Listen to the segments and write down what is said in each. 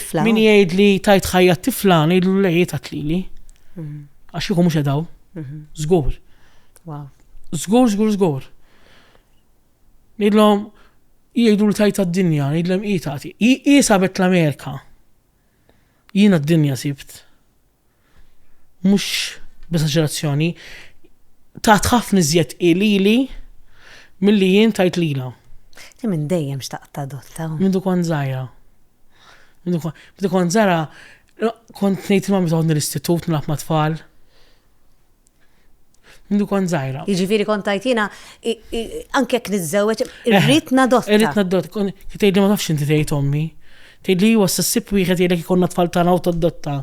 tifla. Min jgħid li tajt ħajja tifla, ngħidlu le jgħidha tlili. Mhm. Għax jieħu mhux edaw. Mhm. Żgur. Żgur, żgur, żgur. Ngħidlhom jgħidu li tajt għad-dinja, ngħidlhom hi tagħti. Hi sabet l-Amerika. Jiena d-dinja sibt. mhux b'esaġerazzjoni, tat ħafna iżjed qi lili milli jien tajt lilha. Ti minn dejjem xtaqt tadotta. Mindu kont żgħira. Mindu kont żgħira kont ngħid ma' meta l-istitut nilgħab ma' tfal. Mindu kont zaħira. Jiġifieri kont tajt jiena anke jekk niżżewweġ eh, irrid nadotta. Irrid nadotta, tgħid li ma nafx inti tgħid ommi. Tgħid li huwa s-sib wieħed jgħidlek ikonna tfal tagħna u tadotta.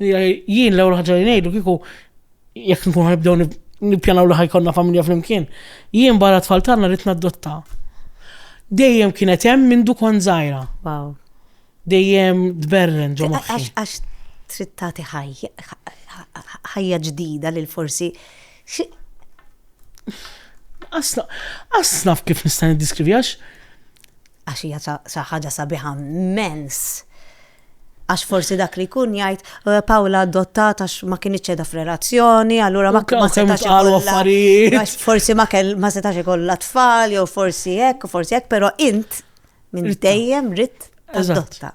Jien l-ewwel ħaġa li ngħidu kieku jekk nkun ħanibdew nippjanaw li ħajkonna familja flimkien. Jien barra tfal tagħna rrid nadotta. Dejjem kienet hemm mindu kont żgħira. Wow. Dejjem tberren ġo moħħi. Għax trid tagħti ħajja ġdida lil forsi Asna, asna kif nista' niddiskrivi għax. Għax hija sa ħaġa sabiħa mens. Għax forsi dak li kun jgħid eh, Pawla adottat għax ma kien iċċeda f'relazzjoni, allura ma kien setax affarijiet. Forsi ma setax ikollha tfal, jew forsi hekk, forsi hekk, però int Minn dejjem ritt adotta.